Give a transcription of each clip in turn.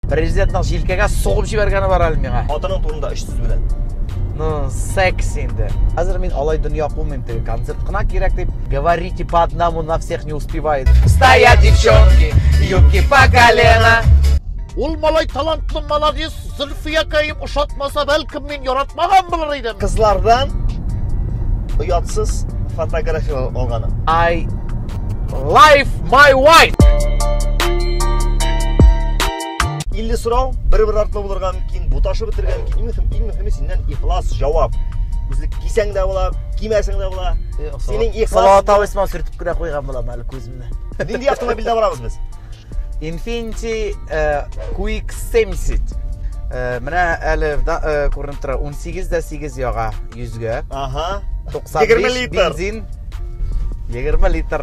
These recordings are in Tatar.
Президентның җилкәгә сугып җибәргәне бар әле миңа. Хатының турында өч сүз белән. Ну, секс инде. Хәзер мин алай дөнья кумыйм, теге концерт кына кирәк дип. Говорите по одному, на всех не успевает. Стоят девчонки, юбки по колено. Ул малай талантлы, молодец, Зөлфия каем ошатмаса, бәлкем яратмаган булыр идем. Кызлардан оятсыз фотография алганым. I life my wife. 50 сорау, бер-бер артлы булырга мөмкин, буташы бетергә мөмкин. Иң мөһим, иң мөһиме синнән ихлас җавап. Үзлек кисәң дә була, кимәсәң дә була. Синең ихлас. Салат авысман сүртеп кенә куйган булам әле күземне. Нинди автомобильдә барабыз без? Infinity QX70 Э, менә әле э, күренеп тора 18 дә 8 яга 100 гә ага 95 литр бензин 20 литр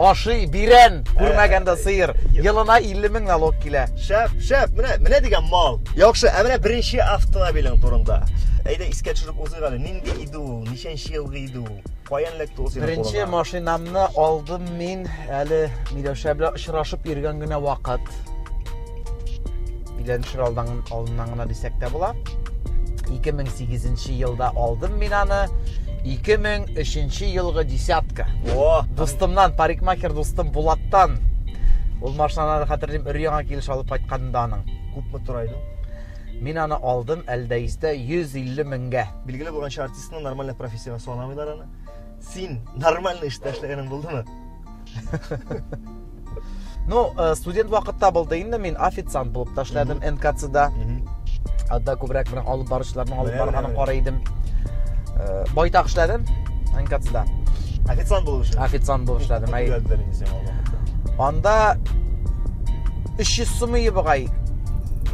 ашый бирән күрмәгәндә э, сыер елына 50 мең налог килә шәп шәп менә менә дигән мал яхшы ә менә беренче автомобилең турында әйдә искә төшереп узыйк әле нинди иде ул ничәнче елгы иде ул Каян эләкте ул синең Беренче кулыңа? машинамны алдым мин әле Миләүшә белән очрашып йөргән генә вакыт. Өйләнешер алдан алдыннан гына дисәк тә була. 2008 елда алдым мин аны. 2003 елгы десятка. О, дустымнан, парикмахер дустым Булаттан. Ул машинаны хәтерлим, өр яңа килеш алып кайтканында аның. Күпме тора иде? Мин аны алдым Әлдәистә 150 меңгә. Билгеле булганча Ну, нормальный профессияга санамыйлар аны. Син нормальный эштә эшләгәнең булдымы? Ну, э, студент вакытта булды инде мин официант булып та эшләдем НКЦда. Анда күбрәк менә алып баручыларның алып барганын карый идем. Э, байтак эшләдем НКЦда. Официант булып эшләдем. Официант булып эшләдем. Әй. Анда 300 сумы ебыгай.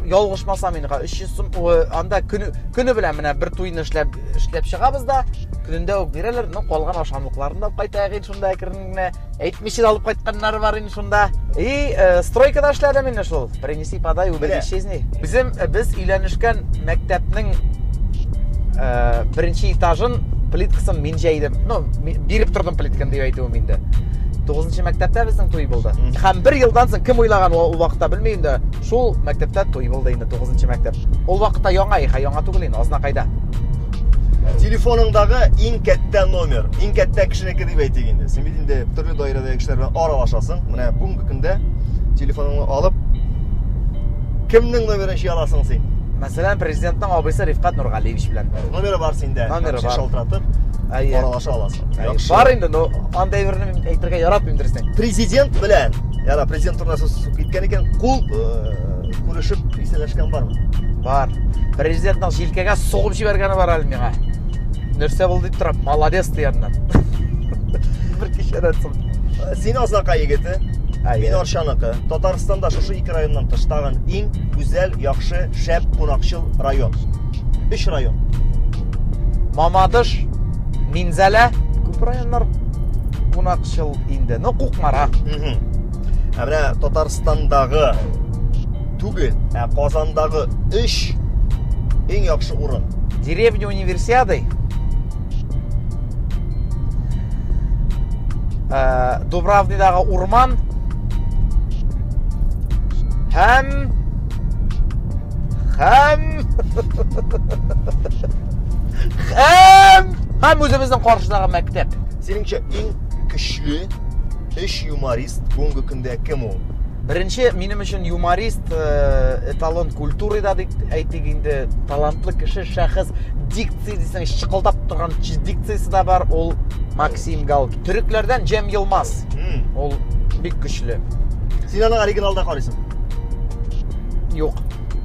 Ялгышмасам инде, 300 анда көне, көне белән менә бер туйны эшләп эшләп чыгабыз да көнендә үк бирәләр ну калган ашамлыкларын да алып кайтайык инде шунда әкрен генә әйтмичә алып кайтканнары бар инде шунда и э, стройкада эшләдем инде шул принеси подай убери исчезни безем э, без өйләнешкән мәктәпнең э, беренче этажын плиткасын мин җәйдем ну биреп тордым плитканы дип әйтүем инде тугызынчы мәктәптә безнең туй булды һәм бер елдан соң кем уйлаган ул вакытта белмим дә Шул мәктәптә туй булды инде, 9 мәктәп. Ул вакытта яңа их, яңа түгел инде, азна кайда. Телефоныңдагы иң кәттә номер, иң кәттә кешенеке дип әйтик инде. Син бит инде төрле даирәдәге кешеләр белән аралашасың. Менә бүгенге көндә телефоныңны алып кемнең номерын җыя аласың син? Мәсәлән, президентның абыйсы Рифкат Нургалиевич белән. Номеры бар синдә. Номеры бар. Шалтыратып Әйе. Аралаша аласың. Яхшы. Бар инде, но андый берне әйтергә яратмыйм дөрестән. Президент белән, яра президент турында сүз киткән икән кул күрешеп исәләшкән бармы бар президентның җилкәгә сугып җибәргәне бар әле миңа нәрсә булды дип торам молодец дигәннән бер кичәдән соң син азнака егете мин арчаныкы татарстанда шушы ике районнан тыш тагын иң гүзәл яхшы шәп кунакчыл район өч район мамадыш минзәлә күп районнар кунакчыл инде ну кукмара ә менә татарстандагы түгел ә казандагы өч иң яхшы урын деревня универсиады ә, дубравныйдагы урман һәм һәм һәм һәм үзебезнең каршыдагы мәктәп синеңчә иң көчле, өч юморист бүгенге көндә кем ул? Беренче минем өчен юморист э, эталон культуры да дип әйтик инде, талантлы кеше, шәхес, дикция дисәң, чыкылдап торган дикциясе дә бар, ул Максим Галки. Төрекләрдән Джем Йылмаз. Ул бик көчле. Син аны оригиналда карыйсың? Юк.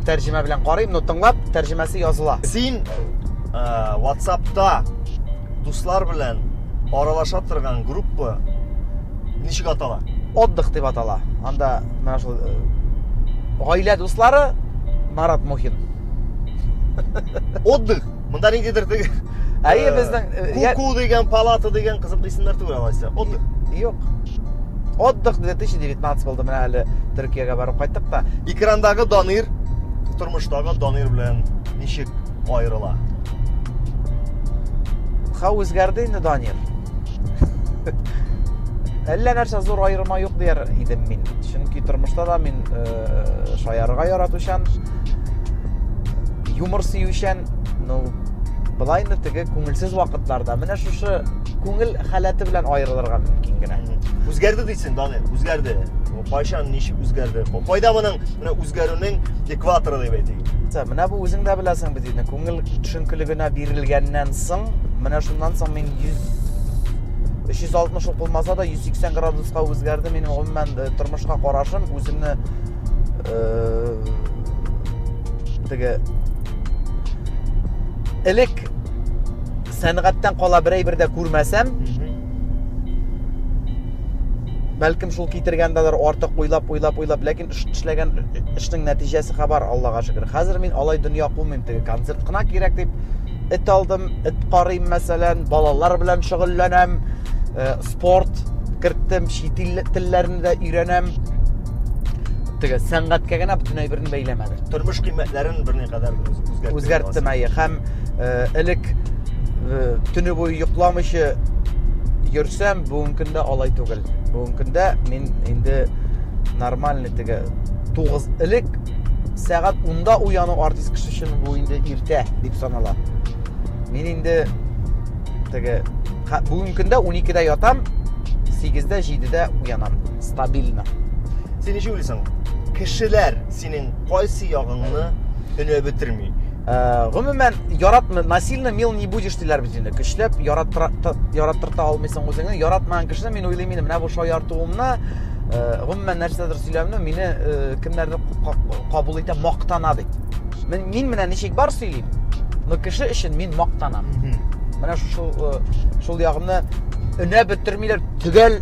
Тәрҗемә белән карыйм, но тыңлап, тәрҗемәсе языла. Син э, WhatsApp-та дуслар белән аралаша торган группа ничек атала? Отдых дип атала. Анда менә шул э, гаилә дуслары Марат Мухин. Отдых. Монда ниндидер теге Әйе, э, безнең э, Куку дигән палата дигән кызык исемнәр түгел алайса. Отдых. Юк. Отдых 2019 булды менә әле Төркиягә барып кайттык та. Экрандагы Данир тормыштагы Данир белән ничек каерыла. Хау үзгәрде инде, Данир. Әллә нәрсә зур аерма юк дияр идем мин. Чөнки тормышта да мин э, шаярга яратучан, юмор сөючән, ну, былай инде теге күңелсез вакытларда менә шушы күңел халәте белән аерылырга мөмкин генә. Үзгәрде дисең, Данир, үзгәрде. Кайчан, ничек үзгәрде? Кайда моның менә үзгәрүнең кватро дип әйтик. Менә бу үзең дә беләсең бит инде, күңел төшенкелегенә бирелгәннән соң, менә шуннан соң мин 100 360 ук булмаса да 180 градуска үзгәрде минем гомумән э, тормышка карашым үземне э, теге элек сәнгатьтән кала бер әйбер дә күрмәсәм бәлкем шул китергәндәдер артык уйлап уйлап уйлап ләкин эшләгән эшнең нәтиҗәсе хәбар, Аллага шөкер. Хәзер мин алай дөнья кумыйм, теге концерт кына кирәк дип эт алдым, эт карыйм, мәсәлән, балалар белән шөгыльләнәм, э, спорт керттем, чит ил телләрен дә өйрәнәм. Теге сәнгатькә генә бөтенләй берни бәйләмәде. Тормыш кыйммәтләрен берни кадәр үзгәрттем. Үзгәрттем, әйе, һәм э, элек э, төне буе йокламыйча йөрсәм, бүгенге көндә алай түгел. бүгенге көндә мин инде нормальный теге тугыз элек сәгать унда уяну артист кеше өчен бу инде иртә дип санала мин инде теге бүгенге көндә уникедә ятам сигездә җидедә уянам стабильно син ничек уйлыйсың кешеләр синең кайсы ягыңны өнә бетерми Э, гомумән яратмы насильно мил не будешь диләр бит инде көчләп яраттырта алмыйсың үзеңне яратмаган кешене мин уйлыйм инде менә бу шаяртуымны э, гомумән нәрсәдер сөйләвемне мине э, кемнәрдер кабул итә мактана бит мин, мин менә ничек бар сөйлим но кеше өчен мин мактанам менә шул шул ягымны өнә бетермиләр төгәл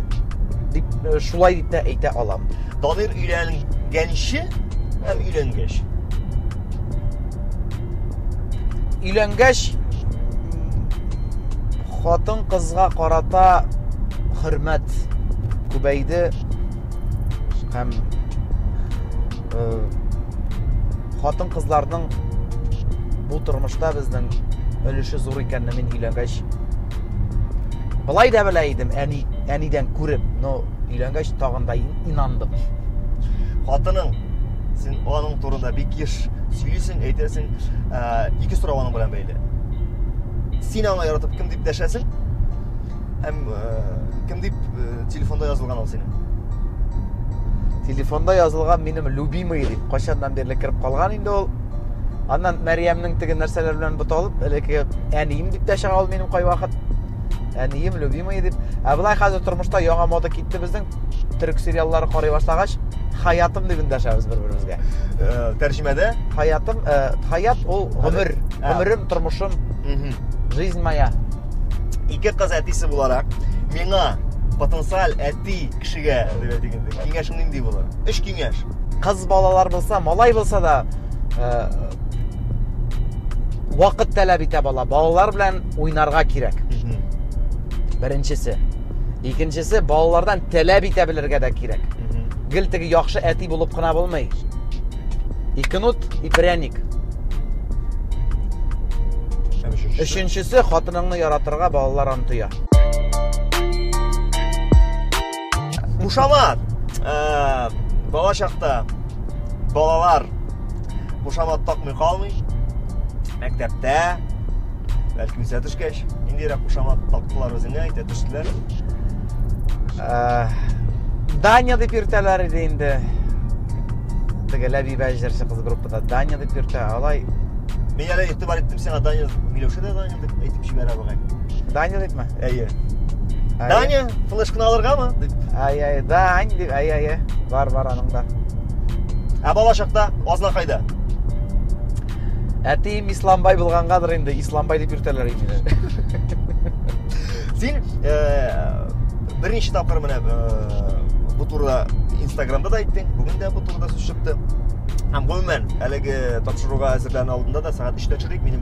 дип шулай дип тә әйтә алам Данир өйләнгәнче һәм өйләнгәч. Өйләнгәч хатын кызга карата хөрмәт күбәйде һәм э, хатын кызларның бу тормышта безнең өлеше зур икәнне мин өйләнгәч былай да белә идем әни әнидән күреп но Өйләнгәч тагын да инандым. Хатының син аның турында бик еш сөйлисең, әйтәсең, ә, ике сорау аның белән бәйле. Син аны яратып кем дип дәшәсең? Һәм ә, кем дип ә, телефонда язылган ул синең? Телефонда язылган минем любимый дип кайчаннан бирле кереп калган инде ул. Аннан Мәриямнең теге нәрсәләр белән буталып, элекке әнием дип тә чыга ул минем кайвакыт. әнием любимый дип ә былай хәзер тормышта яңа мода китте безнең төрек сериаллары карый башлагач хаятым дип эндәшәбез бер беребезгә э, тәрҗемәдә хаятым э, хаят ул гомер гомерем тормышым жизнь моя ике кыз әтисе буларак миңа потенциаль әти кешегә дип әйтик инде киңәшең нинди булыр өч киңәш кыз балалар булса малай булса да э, вакыт таләп итә бала балалар белән уйнарга кирәк беренчесе икенчесе балалардан таләп итә белергә дә кирәк гел теге яхшы әти булып кына булмый икенут и пряник өченчесе хатыныңны яратырга балалар аны тоя Мушамат! Ә, бала чакта балалар мушамат такмый калмый. Мәктәптә, бәлки үсә төшкәч, ниндирәк мушамат тактылар үзеңә, әйтә төштеләр. Ә, Даня дип йөртәләр иде инде. Тегеләп ибәҗерче кыз группада Даня дип йөртә. Алай Мин әле игътибар иттем сиңа, Даня, Миләүшә дә Даня. дип әйтеп җибәрә бугай. Даня дипме? Әйе. Даня, флешканы алыргамы? дип. Әй, әй, Дань дип, әй, әй, бар, бар аның да. Ә бала чакта азна кайда? Әтием Исламбай булгангадыр инде, Исламбай дип йөртәләр инде. Син э, берничә тапкыр менә э, бу турыда Инстаграмда да әйттең, бүген дә бу турыда сүз чыкты. Һәм гомумән, әлеге тапшыруга әзерләнү алдында да сәгать 3-тә чыгыйк, минем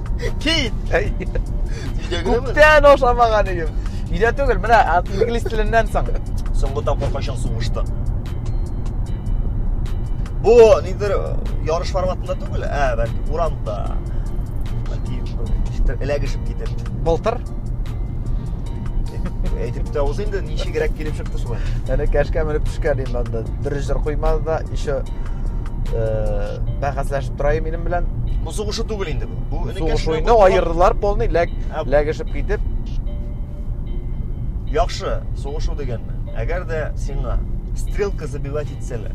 Кит! Күптән ашамаган идем. Өйдә түгел, менә инглиз теленнән соң. Соңгы тапкыр кайчан сугышты? Бу нидер ярыш форматында түгел, ә бәлки урамда. Бәлки эләгешеп китеп. Былтыр әйтеп тә узы инде ничегрәк килеп чыкты шулай әнә кәшкә менеп төшкән инде анда дөрес җыр куймады да еще э, бәхәсләшеп Троем минем белән. Бу сугышу түгел инде бу. Бу энекәш Сугыш белән уены кызга- аердылар полный, ләк, Ә- ләгешеп китеп. Яхшы, сугышу дигәнме? Әгәр дә сиңа стрелка забивать итсәләр,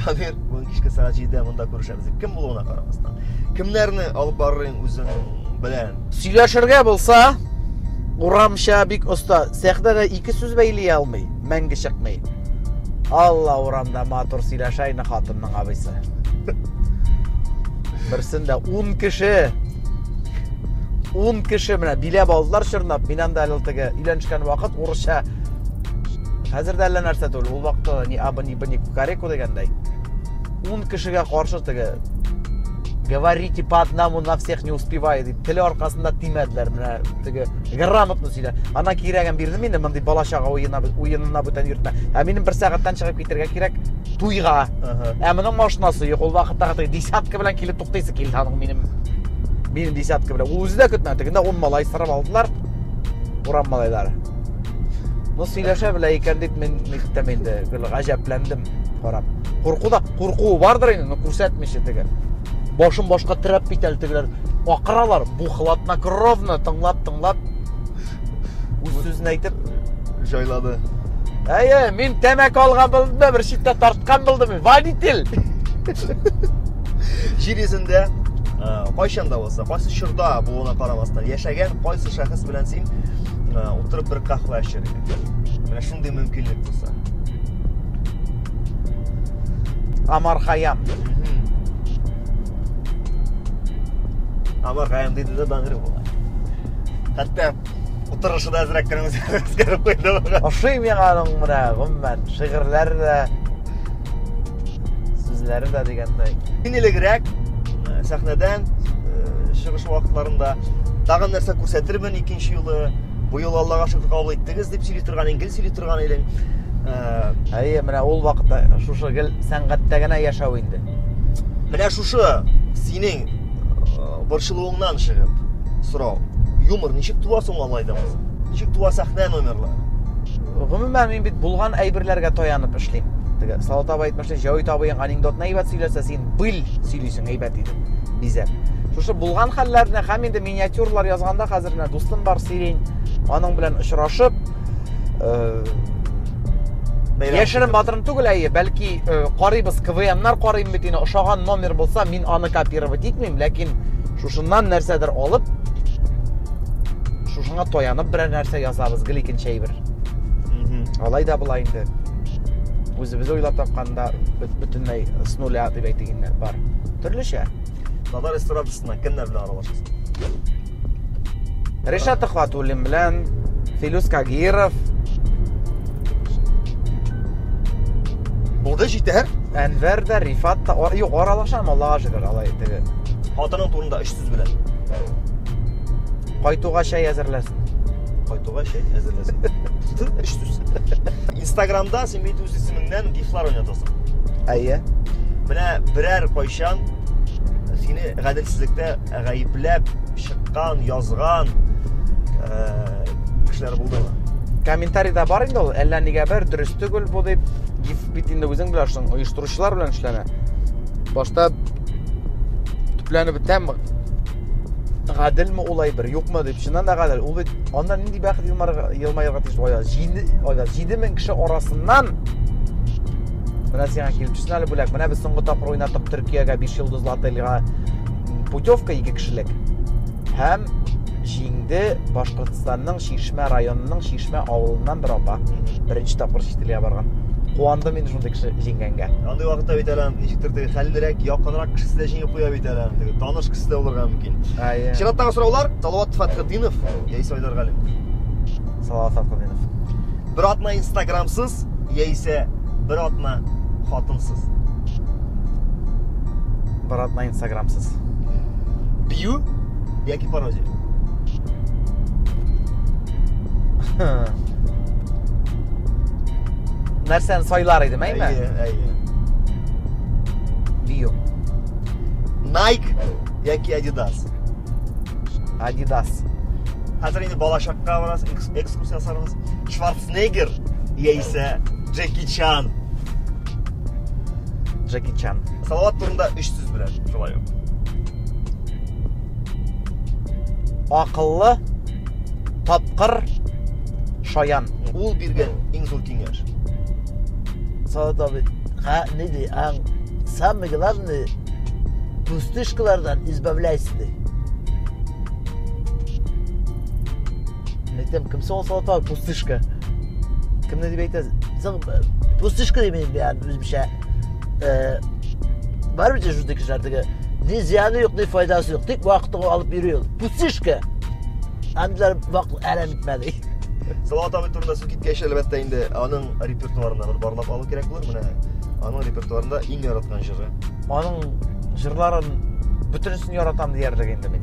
Дамир, бүген кичке сәгать 7-дә монда күрешәбез. дип. Кем булуына карамастан. Кемнәрне алып барырын үзең белән? Сөйләшергә булса, урамча бик оста. Сәхнәдә ике сүз бәйли алмый. мәңге чыкмый. Алла урамда матур сөйләшә инде хатынның абыйсы. Берсендә 10 кеше 10 кеше менә биләп алдылар чорнап. Мин анда әле теге өйләнешкән вакыт урысча хәзер дә әллә нәрсә түгел. Ул вакытта ни абы ни бни кукареку дигәндәй. 10 кешегә каршы теге говорите по одному на всех не успеваю дип теле аркасында тимәделәр менә теге грамотно сөйлә. Ана кирәген бирде мине, мондый бала чага уена уенына бүтән йөртмә. Ә минем бер сәгатьтән чыгып китергә кирәк туйга. Ә моның машинасы юк, ул вакытта хәтта десятка белән килеп туктыйсы килде аның минем минем десятка белән. Үзе дә көтмәде. Тегендә 10 малай сырып алдылар. Урам малайлары. Ну сөйләшә белә икән дип мин мектәп инде гел гаҗәпләндем карап. Курку да курку бардыр инде, но күрсәтмичә теге. Башым башка терәп бит әле тегеләр. акыралар бу хладнокровно тыңлап тыңлап үз сүзен әйтеп җайлады әйе мин тәмәке алган булдым да бер читтә тарткан булдым водитель җир йөзендә кайчан да булса кайсы чорда булуына карамастан яшәгән кайсы шәхес белән син утырып бер кафе эчәргә менә шундый мөмкинлек булса Амар Хаям. Амаргаем диде дә даңгыр була. Хәтта утырышы да әзрәк кенә үзгәреп куйды. Ошый миңа аның менә гомумән шигырьләре дә сүзләре дә дигәндәй. Инелегрәк э, сәхнәдән э, чыгыш вакытларында тагын нәрсә күрсәтермен икенче юлы бу юлы аллага шөкер кабул иттегез дип сөйли торган иң гел сөйли торган идең әйе менә ул вакытта шушы гел сәнгатьтә генә яшәү инде менә шушы синең э, борчылуыңнан чыгып сорау юмор ничек туа соң алай да ничек туа сәхнә номерлары гомумән мин бит булган әйберләргә таянып эшлим теге салат абый әйтмешли җәвит абыең анекдотны әйбәт сөйләсә син бил сөйлисең әйбәт итеп бизәп шушы булган хәлләрне һәм инде миниатюралар язганда хәзер менә дустым бар сирень аның белән очрашып Яшерен батырын түгел әйе, бәлки карыйбыз, КВМнар карыйм бит инде, ошаган номер булса, мин аны копировать итмим, ләкин шушыннан нәрсәдер алып, шушыңа таянып берәр нәрсә язабыз, гел икенче әйбер. Алай да була инде. Үзебез уйлап тапканда бөтенләй с нуля дип әйтегәннәр бар. Төрлечә. Татар эстрадасына кемнәр белән аралашасың? Ришат Төхватуллин белән Филүс Кагиров. Булды җитәр. Әнвәр дә, Рифат та, юк, аралашам, Аллага шөкер, алай теге. Хатының турында өч сүз белән. Кайтуга чәй әзерләсен. Кайтуга чәй әзерләсен. Өч сүз. Инстаграмда син бит үз исемеңнән гифлар уйнатасың. Әйе. Менә берәр кайчан сине гаделсезлектә Гаепләп чыккан, язган э, кешеләр булдымы? Комментарийда бар инде ул, әллә нигә бер дөрес түгел бу дип, гиф бит инде үзең беләшең, оештыручылар белән эшләнә. Башта төпләнеп бетәм, гаделме улай бер, юкмы дип, чыннан да гадел. Ул бит анда нинди бәхет елмаерга тиеш бая. 7 ага 7000 кеше арасыннан Менә сиңа килеп төшсен әле бүләк. Менә без соңгы тапкыр уйнадык Төркиягә 5 йолдызлы отельгә путевка ике кешелек һәм җиңде башкортстанның чишмә районының чишмә авылыннан бер апа беренче тапкыр чит илгә барган куандым мин шундый кеше җиңгәнгә андый вакытта бит әле ничектер теге хәллерәк якынрак кешесе дә җиңеп куя бит әле теге таныш кеше дә булырга мөмкин чираттагы сораулар салават фәтхетдинов яисә айдар галимов салават фәтхетдинов бер атна инстаграмсыз яисә бер атна хатынсыз брат на инстаграмсыз бию яки пародия нәрсәне сайлар идем әйме әйе әйе бию найк яки адидас адидас хәзер инде балачакка барасыз экскурсия ясарбыз шварценеггер яисә джеки чан Джеки Чан. Салават турында өч сүз белән. Шулай ук. Акыллы, тапкыр, шаян. Ул биргән иң зур киңәш. Салават абый, ха, не ди, а самый главный пустышкалардан избавляйся ди. Әйтәм, кем соң Салават абый пустышка? Кемне дип әйтәсез? Соң пустышка димәйм, үземчә э, бар бит шундый кешеләр теге ни зыяны юк ни файдасы юк тик вакытыңа алып йөри ул пустышка андилар вакыт әрәм итмәде салават абый турында сүз киткәч әлбәттә инде аның репертуарына бер барлап алу кирәк булыр менә аның репертуарында иң яраткан җыры аның җырларын бөтенесен яратам диярлек инде мин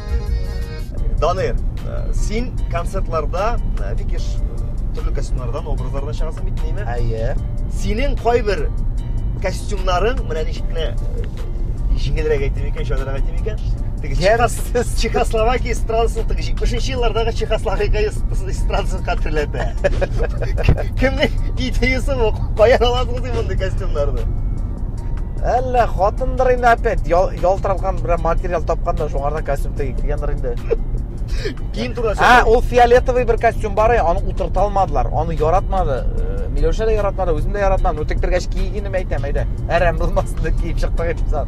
Данир, э, син концертларда э, бик еш э, төрле костюмнардан, образлардан чыгасың бит, нәйме? Әйе. Синең кайбер костюмнарың, менә ничек кенә җиңелрәк әйтим икән, шагырак әйтим икән. Теге Чехословакия Чехословакия эстрадасын, теге 70 еллардагы Чехословакия эстрадасын хәтерләтә. Кемнең идеясы бу? Каян аласыз мондый костюмнарны? Әллә хатындыр инде опять ял, ялтыраткан бер материал тапканда шуңардан костюм тегеп кигәндер инде. Киң тура Ә, ул фиолетовый бер костюм бар ия, аны утырта алмадылар, аны яратмады. Э, Миләүшә дә яратмады, үзем дә яратмадым. Ну тектергәч кигенем әйтәм, әйдә. Әрәм булмасын дип киеп чыктык инде сат.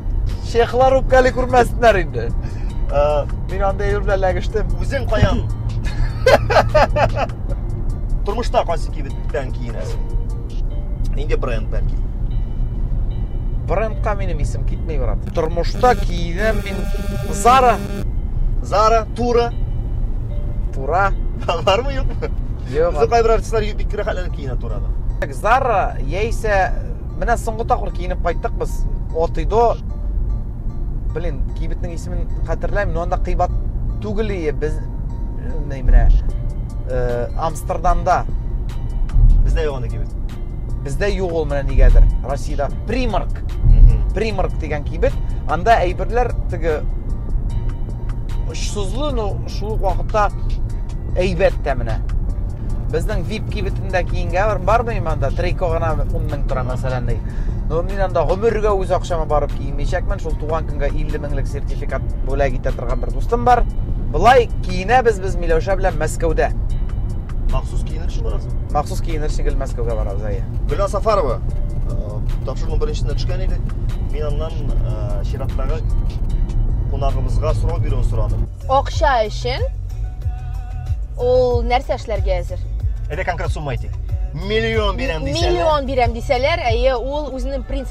Шехлар үпкәли күрмәсеннәр инде. Э, Мин анда Эйр белән ләгештем. Үзең каян? Тормышта кайсы кибет? белән киенәсең. Нинди бренд белән киен? Брендка минем исем китми, брат. Тормышта киенәм мин Zara. Zara, Тура. Тура. Бармы юкмы? Юк. Бездә кайбер артистлар бик рәхәтләнеп киенә Турада. Zara яисә менә соңгы тапкыр киенеп кайттык без. Отыйдо блин, кибетнең исемен хәтерләмим, но анда кыйбат түгел ие без менә э, Амстердамда. Бездә юк аны кибет. Бездә юк ул менә нигәдер. Россиядә Примарк. Примарк дигән кибет. Анда әйберләр теге очсызлы, но шул ук вакытта әйбәт тә менә. Безнең VIP кибетендә киенгә бар бармыйм анда, трико гына 10 мең тора мәсәлән. Ну, мин анда гомергә үз акчама барып кимейчәкмен. Шул туган көнгә 50 меңлек сертификат бүләк итә торган бер дустым бар. Былай киенәбез без Миләүшә белән Мәскәүдә. Махсус киенер өчен барасың? Махсус киенер өчен гел Мәскәүгә барабыз, әйе. Гөлназ Сафарова э, тапшыруның беренчесенә төшкән иде. Мин аннан э, чираттагы кунагыбызга сорау бирүен сорадым. Акча өчен ул нәрсә эшләргә әзер? Әйдә конкрет сумма әйтик. Миллион бирәм дисәләр. Миллион бирәм дисәләр, әйе, ул үзенең принцип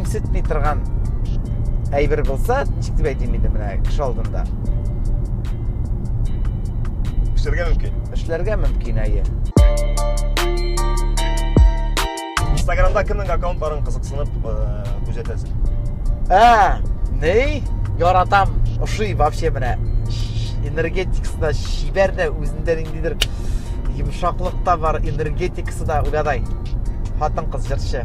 үсетми торган әйбер булса ничек дип әйтим инде менә кеше алдында эшләргә мөмкин эшләргә мөмкин әйе инстаграмда кемнең аккаунтларын кызыксынып күзәтәсең ә ни яратам ошый вообще менә энергетикасы да чибәр дә үзендә ниндидер йомшаклык та бар энергетикасы да угадай хатын кыз җырчы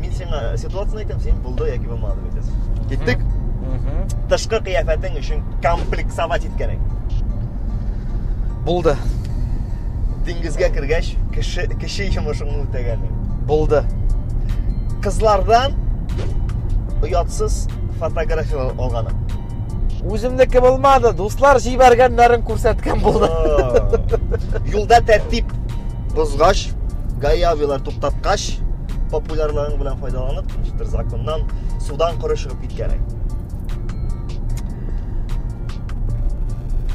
Мин сиңа ситуацияне әйтәм, син булды яки булмады дип әйтәсең. Киттек? Тышкы кыяфәтең өчен комплексовать иткәнең. Булды. Диңгезгә кергәч, кеше кеше йомышыңны үтәгәнең. Булды. Кызлардан оятсыз фотографиялар алганың. Үземнеке булмады, дуслар җибәргәннәрен күрсәткән булды. Юлда тәртип бозгач, гаи авилар туктаткач, популярлыгың белән файдаланып, бер законнан судан коры чыгып киткән.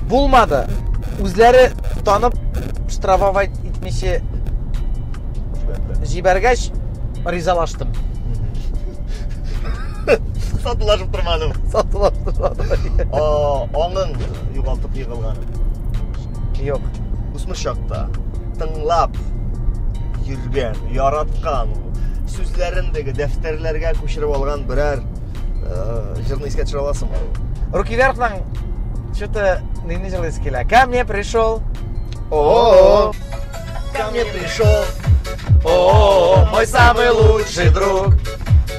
Булмады. Үзләре танып штрафовать итмичә җибәргәч, ризалаштым. сатылашып тормадым сатылашып тормадым аңын югалтып егылган юк үсмер чакта тыңлап йөргән яраткан сүзләрен теге дәфтәрләргә күчереп алган берәр җырны искә төшерә аласыңмы руки вверхның что то нинди җырлы ис килә ко мне пришел о ко мне пришел о мой самый лучший друг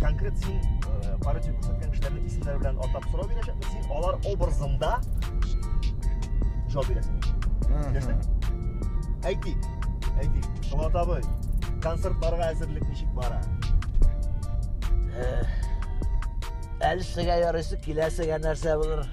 конкрет син полиция күрсәткән кешеләрнең исемнәре белән атап сорау бирәчәкмен син алар образында жауап бирәсең беләсең әйтик әйтик шомат абый концертларга әзерлек ничек бара әлсегә ярыйсы киләсегә нәрсә булыр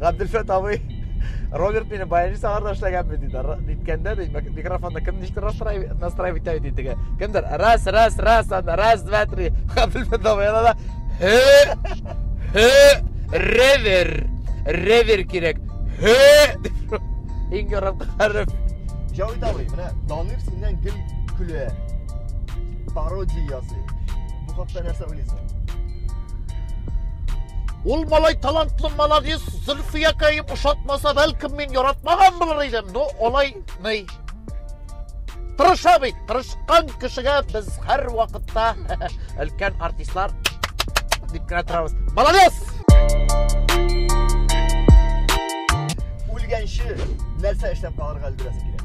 Габделфәт абый Роберт мине баянчы сагарда эшләгәнме диде. Ниткәндә ди, микрофонда кем ничек настраивать итә ди теге. Кемдер раз раз раз анда раз два три. Габделфәт абый анда ревер. Ревер кирәк. Иң ярам кырып. Җавит абый, менә Данир синнән гел көлә. Пародия ясый. Бу хакта нәрсә уйлыйсың? Ул малай талантлы, молодец, Зөлфиякәем ошатмаса, бәлкем мин яратмаган булыр идем, но алай ней. Тырыша бит, тырышкан кешегә без һәр вакытта өлкән артистлар дип кенә торабыз. Молодец! Үлгәнче нәрсә эшләп калырга өлгерәсең килә?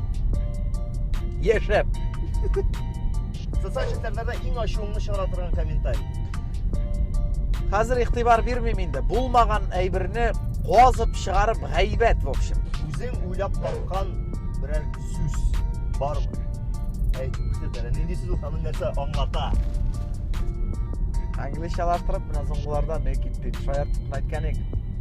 Яшәп. Социаль челтәрләрдә иң ачуыңны чыгара торган комментарий. Хәзер игътибар бирмим инде. Булмаган әйберне казып чыгарып гайбәт, в общем. Үзең уйлап тапкан берәр сүз бармы? Әй, күрсәтәле. Нинди сүз ул ханын нәрсә аңлата? Англичалаштырып, менә соңгыларда не китте. Шаяртып әйткән идек.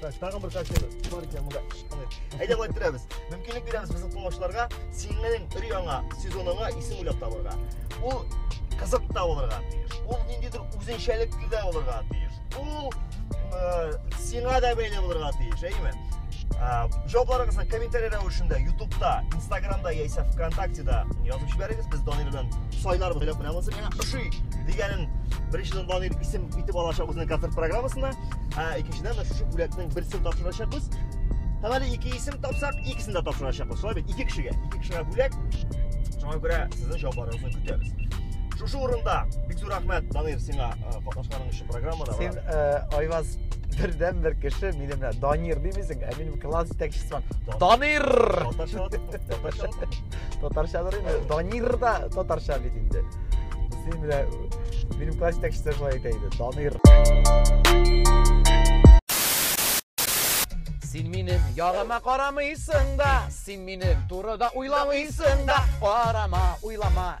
тагын бер качеле бар икән монда әйдә болай төрәбез мөмкинлек бирәбез безнең тыңлаучыларга синең өр яңа сезоныңа исем уйлап табырга ул кызык та булырга тиеш ул ниндидер үзенчәлекле дә булырга тиеш ул э, сиңа да бәйле булырга тиеш әйеме жауапларыңызны комментарий рәвешендә ютубта инстаграмда яисә вконтактеда язып жибәрегез без данир белән сайлар белән беләбез миңа ошый дигәнен беренчедән данир исем итеп алачак үзенең концерт программасына Ә икенчедән дә шушы бүләкнең берсен тапшырачакбыз. Һәм әле ике исем тапсак, икесен дә тапшырачакбыз. Шулай бит, ике кешегә, ике кешегә бүләк. Шуңа күрә сезнең җавапларыгызны көтәбез. Шушы урында бик зур рәхмәт, Данир, сиңа катнашканың өчен программада. Син Айваз бердән бер кеше, мине менә Данир димисең, ә минем класс җитәкчесе Данир. татарча татарчадыр инде данир да татарча бит инде син менә минем класс җитәкчесе шулай әйтә иде данир Син минем ягыма карамыйсың да, син минем турыда уйламыйсың да, карама, уйлама,